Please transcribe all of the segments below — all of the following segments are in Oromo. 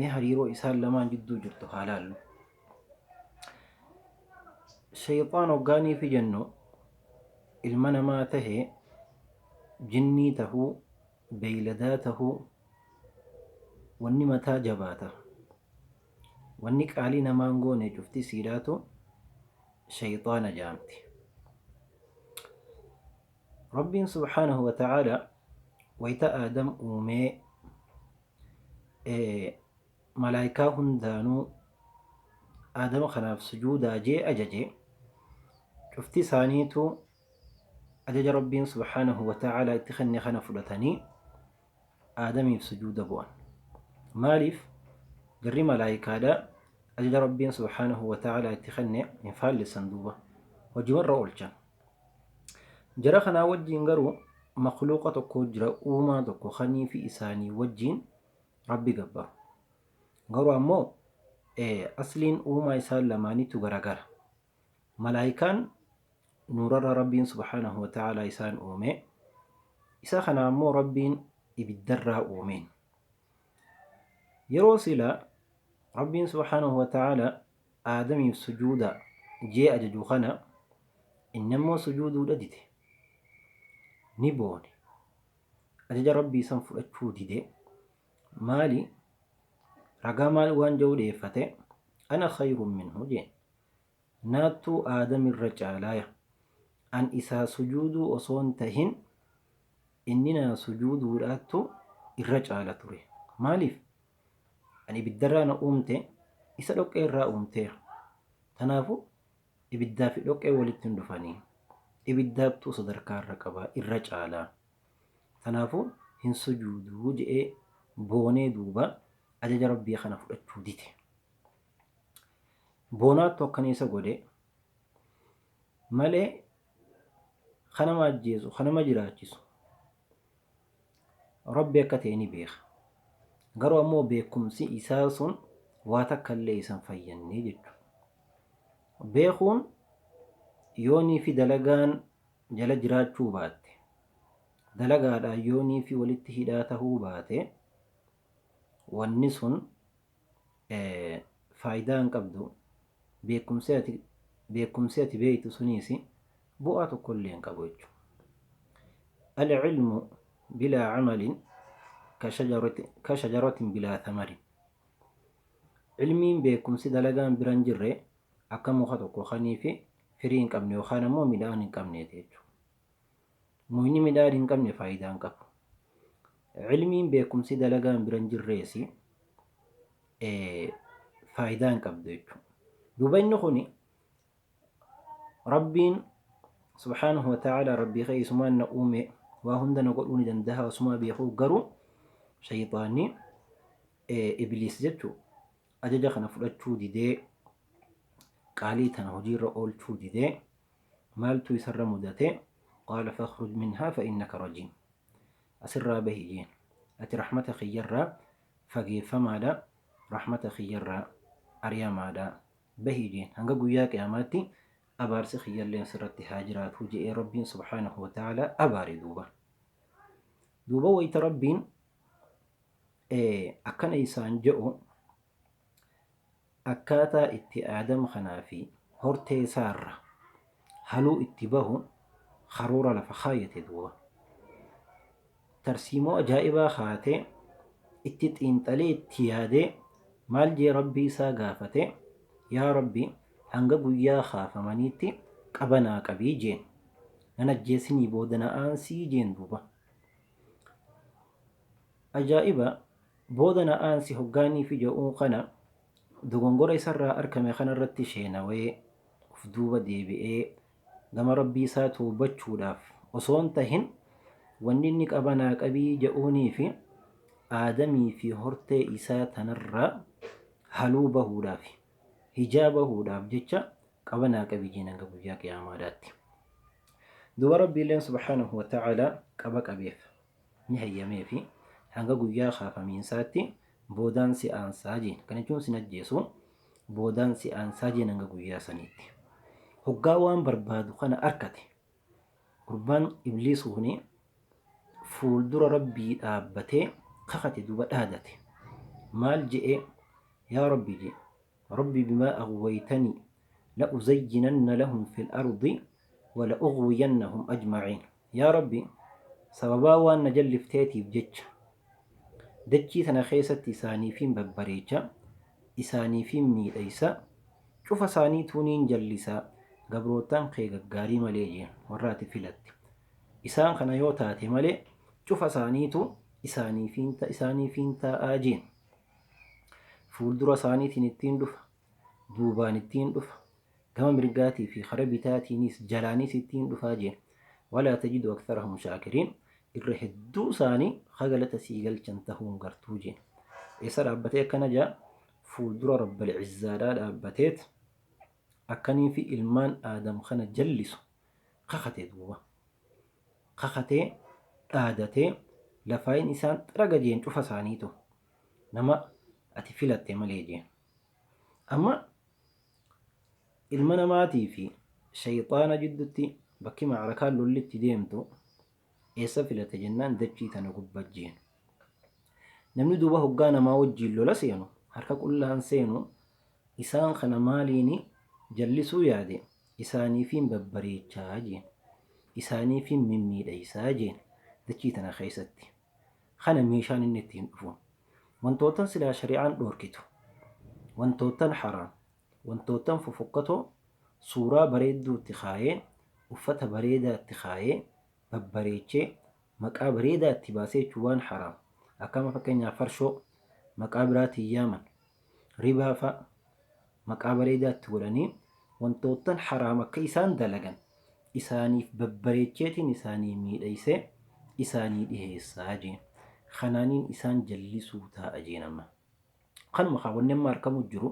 Mee hariiroo isaan lamaan jidduu jirtu haa laallu. Shayxaan hoggaaniifi jennu ilma namaa tahe jinnii tahuu beeyladaa tahuu wanni mataa jabaata wanni qaalii namaan goone cufti siidhaatu shayxaana jaamti. Rabbiin subhaanahu wa ta'aalaa wayta Aadam uumee malaaykaa hundaanuu Aadam kanaaf sujuudaa jee ajaje cufti isaaniitu ajaja Rabbiin subhaanahu wa ta'aalaa itti kenne kana fudhatanii Aadamiif sujuuda bu'an. Maaliif garri malaaykaadha ajaja Rabbiin subhaanahu wa ta'aalaa itti kenne hin faallessan duuba hojimarra oolchan. Jara kanaa wajjiin garuu makluuqa tokko jira uumaa tokko kanii fi isaanii wajjiin rabbi gabbaru. Garuu ammoo asliin uumaa isaan lamaaniitu garagara. Malaayikaan nuurarra rabbiin subhaanahu wa ta'aalaa isaan uume. Isa kana ammoo rabbiin ibiddarraa uumeen. Yeroo sila rabbiin subhaanahu wa ta'aalaa Aadamiif sujuudaa jee ajaju kana inni ammoo sujuuduudha dide. Ni boone. Ajaja Rabbii san fudhachuu dide. Maali? Ragaa maal waan ja'u dhiyeeffate? Ana khayrun minhu jee. Naattu Aadam irra caalaaya. An isaa sujuuduu osoo hin tahin inni naa sujuuduudhaattu irra caala ture. Maaliif? Ani ibiddarraa na uumte, isa dhoqqee irraa uumteera. Tanaafuu ibiddaa fi dhoqqeen walitti hin dhufanii. Ibiddaattuu sadarkaa irra qaba, irra caala. Tanaafuu hin sujuudu je'ee boonee duuba ajaja Rabbii kana fudhachuu dide. Boonaattu akkana isa godhe malee kanama ajjeesu, kanama jiraachisu, Rabbi akka ta'e ni beeka. Garuu ammoo beekumsi isaa sun waa takka illee isa hin fayyanne jechuudha. Beekuun yoonii fi dalagaan jala jiraachuu baatte, dalagaadhaan yoonii fi walitti hidhaa tahuu baate, wanni sun faayidaa hin qabdu. Beekumsi ati beekumsi ati beektu suniis bu'aa tokko illee hin qabu jechuudha. Al-ilmu bilaa amalin ka shajarati- ka shajaratin bilaa thamarin. Ilmiin beekumsi dalagaan bira hin jirre akka muka tokko kanii fi firii hin qabne yookaan ammoo midhaan hin qabneeti jechuudha. Mukni midhaan hin qabne faayidaa hin qabu. Cilmiin, beekumsi, dalagaan bira hin jirreesi faayidaa hin qabdu jechuudha. Duuba inni kuni Rabbiin subhaanahu wa ta'aalaa Rabbii kee isumaan na uume waa hunda na godhuu ni danda'a osumaa beekuu garuu shayxaanni ibliis jechuu ajaja kana fudhachuu didee qaalii tana hojiirra oolchuu didee Maaltu isarra mudate? Qaala fakhruj minhaa fa'innaka rajiim. Asirraa bahi jeen. Ati rahmata kiyyarraa fageeffamaadha, rahmata kiyyarraa ariyamaadha. Bahi jeen. Hanga guyyaa qiyaamaatti abaarsi kiyyalleen sirratti haa jiraatu je'ee Rabbiin subhaanahu wa ta'aalaa abaare duuba. Duuba wayta Rabbiin akkana isaan je'u Akkaataa itti Aadam kanaa fi hortee isaa irraa haluu itti bahu karoora lafa kaayate duuba. Tarsiimoo ajaa'ibaa kaatee, itti xiinxalee itti yaadee maal jee Rabbii isaa gaafate, Yaa Rabbi hanga guyyaa kaafamaniitti qaba naa qabi jeen. Nan ajjeesinii booda na aansi jeen duuba. Ajaa'iba! Booda na aansi hoggaanii fi ja'uu kana dogongora isarraa arkame kanarratti sheenawee of duuba deebi'ee gama Rabbii isaa towbachuudhaaf osoon tahin wanni inni qaba naa qabii ja'uunii fi aadamii fi hortee isaa tanarraa haluu bahuudhaafi, hijaa bahuudhaaf jecha qaba naa qabi jeen hanga guyyaa qiyaamaadhaatti. Duuba Rabbiilleen subhaanahu wa ta'aalaa qaba qabeef. ni hayyameefi. Hanga guyyaa kaafamiinsaatti boodaan si aansaa jeen. Kana jechuun sin ajjeesu, boodaan si aansaa jeen hanga guyyaa saniitti. Hoggaa waan barbaadu kana arkate, gurbaan Ibliis kuni fuuldura Rabbii dhaabbatee kakate duuba dhaadate. Maal je'e? Yaa Rabbi je'e, Rabbi bimaa aghwaytanii la'uzayyinanna lahum fil ardi wa la'ughwiyannahum ajma'iin. Yaa Rabbi! Sababaa waan na jallifteetiif jecha, dachii tana keessatti isaaniifiin babbareecha, isaaniifiin miidhaysa, cufa isaaniituu niin jallisa, gabroottan kee gaggaarii malee jee, warra ati filatte. Isaan kana yoo taate malee, cufa isaaniitu isaaniifiin ta, isaaniifiin taa'a jeen. Fuuldura isaaniitiin ittiin dhufa, duubaan ittiin dhufa. Gama mirgaatii fi kara bitaatiinis jalaanii sittii hin dhufaa jeen. Walaa tajidu aktharahum shaakiriin. Irra hedduu isaanii ka galata sii galchan tahuu hin gartuu jeen. Eessa dhaabbatee akkana jaa? Fuuldura Rabbal Izzaadhaa dhaabbateet akkanii fi ilmaan Aadam kana jallisu kakate duuba. Kakatee, dhaadatee, lafaayin isaan xaraga jeen cufa isaaniitu. Nama ati filatte malee jeen. Amma Ilma namaatii fi sheyxaana jiddutti bakki macrakaan lolli itti deemtu eessa filate jennaan dachii tana gubba jeen. Namni duuba hoggaa namaa wajjiin lola seenu harka qullaan seenu isaan kana maaliini jallisuu yaade isaaniifiin babbareechaa jeen. Isaaniifiin mimmiidheysaa jeen dachii tana keessatti. kana meeshaan inni ittiin dhufu wantoottan silaa shari'aan dhoorkitu, wantoottan haraam, wantoottan fofokkatoo suuraa bareedduu itti kaayee, uffata bareedaa itti kaayee, babbareechee, maqaa bareedaa itti baasee jechuun waan haraam akka amma fakkeenyaaf farshoo maqaa biraatiin yaaman, ribaa fa'a, maqaa bareedaa itti godhanii wantoottan haraam akka isaan dalagan isaaniif babbareecheetiin isaanii miidhaysee isaanii dhiheessa jee kanaaniin isaan jallisuu taa'a jeen amma kanuma kaa wanni amma arkamu jiru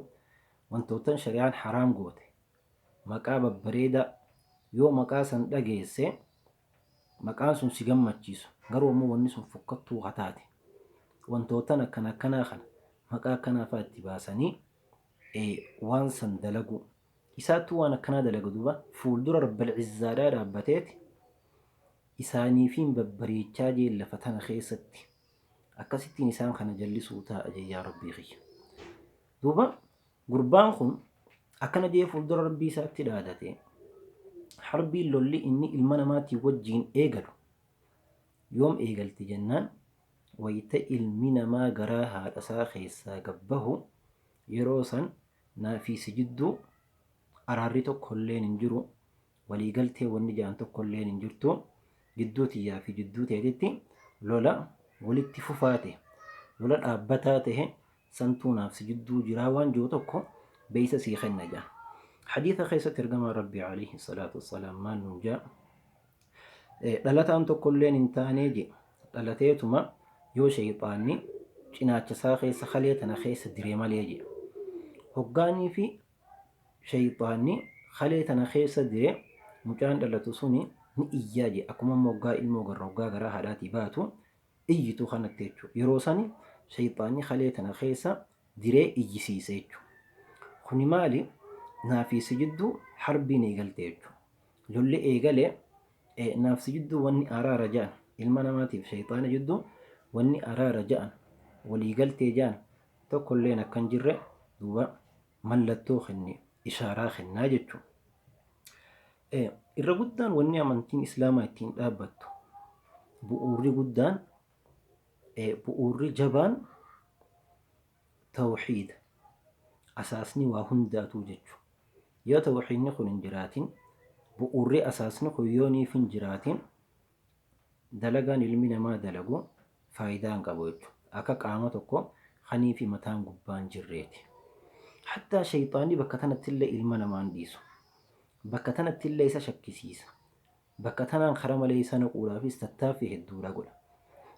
wantoottan shari'aan haraam goote maqaa babbareedaa yoo maqaa san dhageesse maqaan sun si gammachiisu garuu ammoo wanni sun fokkattuu hataate wantoottan akkana akkanaa kana maqaa akkanaa fa'aa itti baasanii ee waan san dalaguu isaattuu waan akkanaa dalaga duuba fuuldura rabbal izzaadhaa dhaabbateeti isaaniifiin babbareechaa jeen lafa tana keessatti akkasittiin isaan kana jallisuu taa'a jeen yaa rabbii kiyya duuba gurbaan kun akkana jee fuuldura rabbii isaatti dhaadate harbiin lolli inni ilma namaatiin wajjiin eegalu Yoom eegalti jennaan, wayita ilmi namaa garaa haadhasaa keessaa gad bahu, yeroo san naa fi si jidduu araarri tokkolleen hin jiru, walii galteen wanni jedhan tokkolleen hin jirtu, jidduu tiyyaa fi jidduu teetitti lola walitti fufaa tahe, lola dhaabbataa tahe santuu naaf si jidduu jiraa waan je'u tokko beeysa sii kenna je'an. Hadiisa keessatti ergamaan Rabbii, aleyhi salaatu wassalaam, maal nuun je'a? Dhalataan tokkolleen hin taanee je, dhalateetuma yoo sheyxaanni cinaacha isaa keessa kalee tana keessa dire malee je. Hoggaaniifi sheyxaanni kalee tana keessa dire mucaan dhalatu suni ni iyyaa je akkuma amma hoggaa ilmoo garra hoggaa garaa haadhaatii baatu iyyitu kanatti jechu. Yeroo sani sheyxaanni kalee tana keessa diree iyyisiise jechu. Kuni maali? Naafii si jidduu harbiin eegalte jechu. Lolli eegale, e, nafsi jidduu wanni araara ja'an, ilma namaatiif shayxaana jidduu wanni araara ja'an, walii galtee ja'an tokkolleen akka hin jirre duuba mallattoo kenne, ishaaraa kennaa jechu. e, Irra guddaan wanni amantiin Islaamaa ittiin dhaabbattu, bu'uurri guddaan, e, bu'uurri jabaan Tawhiida. Asaasni waa hundaatuu jechu. Yoo tawhiidni kun hin jiraatin, bu'uurri asaasni kun yoo niif hin jiraatin, dalagaan ilmi namaa dalagu faayidaa hin qabu jechu. Akka qaama tokko ka niifi mataan gubbaa hin jirreeti. Hattaa sheyxaanni bakka tanattillee ilma namaa hin dhiisu. Bakka tanattillee isa shakkisiisa. Bakka tanaan kara malee isa naquudhaafis tattaaffii hedduudha godha.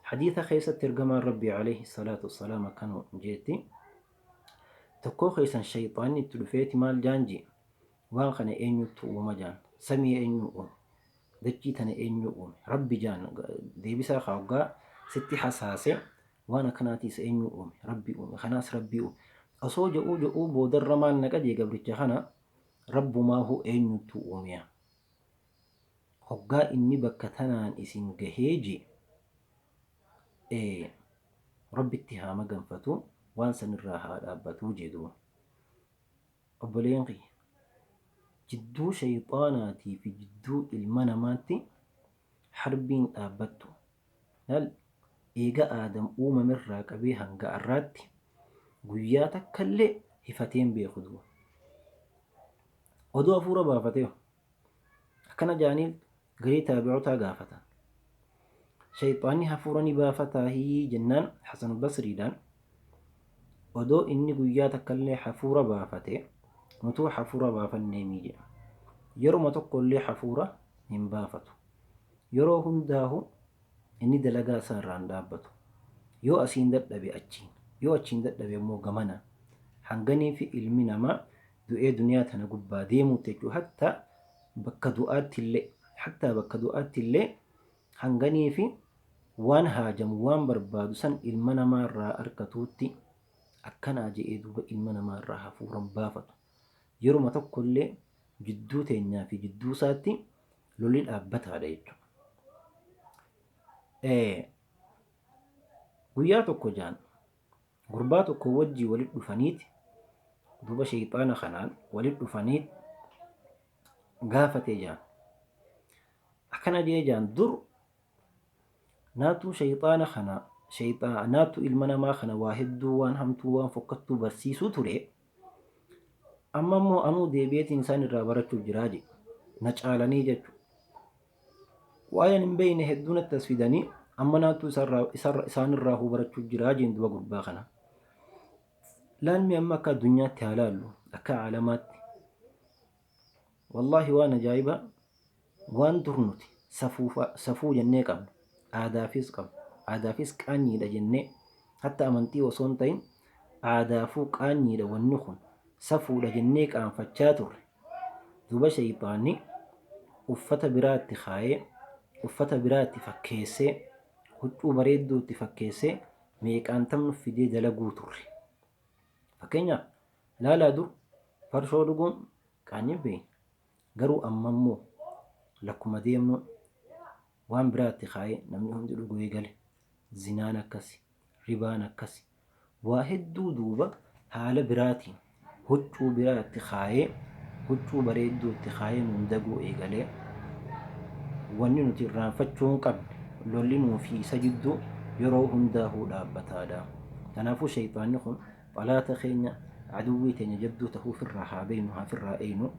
Hadiisa keessatti Ergamaan Rabbii aleyhi salaatu wassalaam akkana jeetti, Tokkoo keessan sheyxaanni itti dhufeeti maal jaan je'e, Waan kana eenyuttu uuma jaan? Samii eenyuu uume? Dachii tana eenyuu uume? Rabbi jaan. Deebisaa kaa hoggaa sitti hasaase, Waan akkanaatiis eenyuu uume? Rabbi uume. Kanaas Rabbii uume. Osoo je'uu je'uu boodarra maal naqa je'e gabricha kana, Rabbumaahuu eenyuttu uumeya? Hoggaa inni bakka tanaan isin gahee je, e, Rabbitti haa maganfatu, waan san irraa haa dhaabbatu je duuba. Obboleeyyan kiyya! Jidduu shayxaanaatii fi jidduu ilma namaatti harbiin dhaabbattu. Lal. Eega Aadam uumamerraa qabee hanga arraatti guyyaa takkallee hifatee hin beeku duuba. Odoo hafuura baafateeho. Akkana jedhanii garii taabi'otaa gaafatan. Shayxaanni hafuura ni baafataahii jennaan Hasan Basriidhaan Odoo inni guyyaa takkallee hafuura baafate, nutuu hafuura baafanneemii jedha. Yeruma tokkollee hafuura hin baafatu. Yeroo hundaahuu inni dalagaa isaa irraa hin dhaabbatu. Yoo asiin dadhabe achiin, yoo achiin dadhabe ammoo gamana. Hanganiifi ilmi namaa du'ee duniyaa tana gubbaa deemuutti jechuudha. Hattaa bakka du'aattillee, hattaa bakka du'aattillee, Hanganii fi waan haajamu waan barbaadu san ilma namaa irraa arkatuutti akkanaa je'ee duuba ilma namaa irraa hafuuran baafatu. Yeruma tokkollee jidduu teenyaa fi jidduu isaatti lolli dhaabbataadha jechuudha. Ee, Guyyaa tokko jaan gurbaa tokko wajjii walit dhufaniiti duuba sheyxaana kanaan walit dhufaniit gaafatee jaan. Akkana je'ee ja'an, Dur naatu shayxaana kana, shayxaa, naatu ilma namaa kana waa hedduu waan hamtuu waan fokkattuu barsiisuu ture, amma immoo anuu deebi'eetiin isaan irraa barachuuf jiraa je'e. Na caalanii jechu. Waa'ee ani hin beeyne hedduu natti as fidanii amma naatu isarraa, isarra, isaan irraa huu barachuuf jiraa je'een duba gurbaa kana. Laalmi amma akka addunyaatti haa laallu, akka aalamaatti. Wallahi waan ajaa'ibaa waan dur nuti safuu jennee qabnu, aadaafiis qabnu, aadaafiis qaanyiidha jennee hatta amantii osoo hin ta'in aadaafuu qaanyiidha wanni kun safuudha jennee qaanfachaa turre duuba sheyxaanni uffata biraa itti kaayee uffata biraa itti fakkeessee huccuu bareedduu itti fakkeessee meeqaantam nuf fidee dalaguu turre. Fakkeenyaaf laalaa dur farshoo dhuguun Qaanyiin bahe. Garuu amma immoo lakkuma deemnu waan biraa itti kaayee namni hundi dhuguu eegale. Zinaan akkasi, ribaan akkasi. Waa hedduu duuba haala biraatiin huccuu biraa itti kaayee, huccuu bareedduu itti kaayee nuun daguu eegale. Wanni nuti irraanfachuu hin qabne lolli nuu fi isa jidduu yeroo hundaahuu dhaabbataadha. Kanaafuu sheyxaanni kun. Xalaata keenya, aduwwii teenya jabduu tahuu ufirraa haa beeynu, haa firraa eeynu.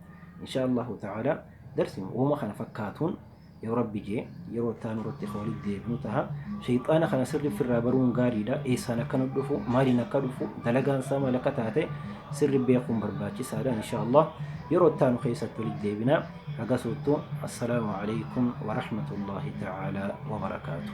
Inshaa Allaahu ta'aalaa darsi woma kana fakkaatuun yoo Rabbi je'e yeroo itti aanu irratti ka walitti deebinu taha. Sheyxaana kana sirri ufirraa baruun gaarii dha. Eessaan akka nu dhufu, maaliin akka dhufu, dalagaan isaa maal akka taate sirri beekuun barbaachisaa dha. Inshaa Allaah yeroo itti aanu keessatti walitti deebina. Hagasuuttu assalaamu aleykum wa rahmatullaahi ta'aalaa wa barakaatuh.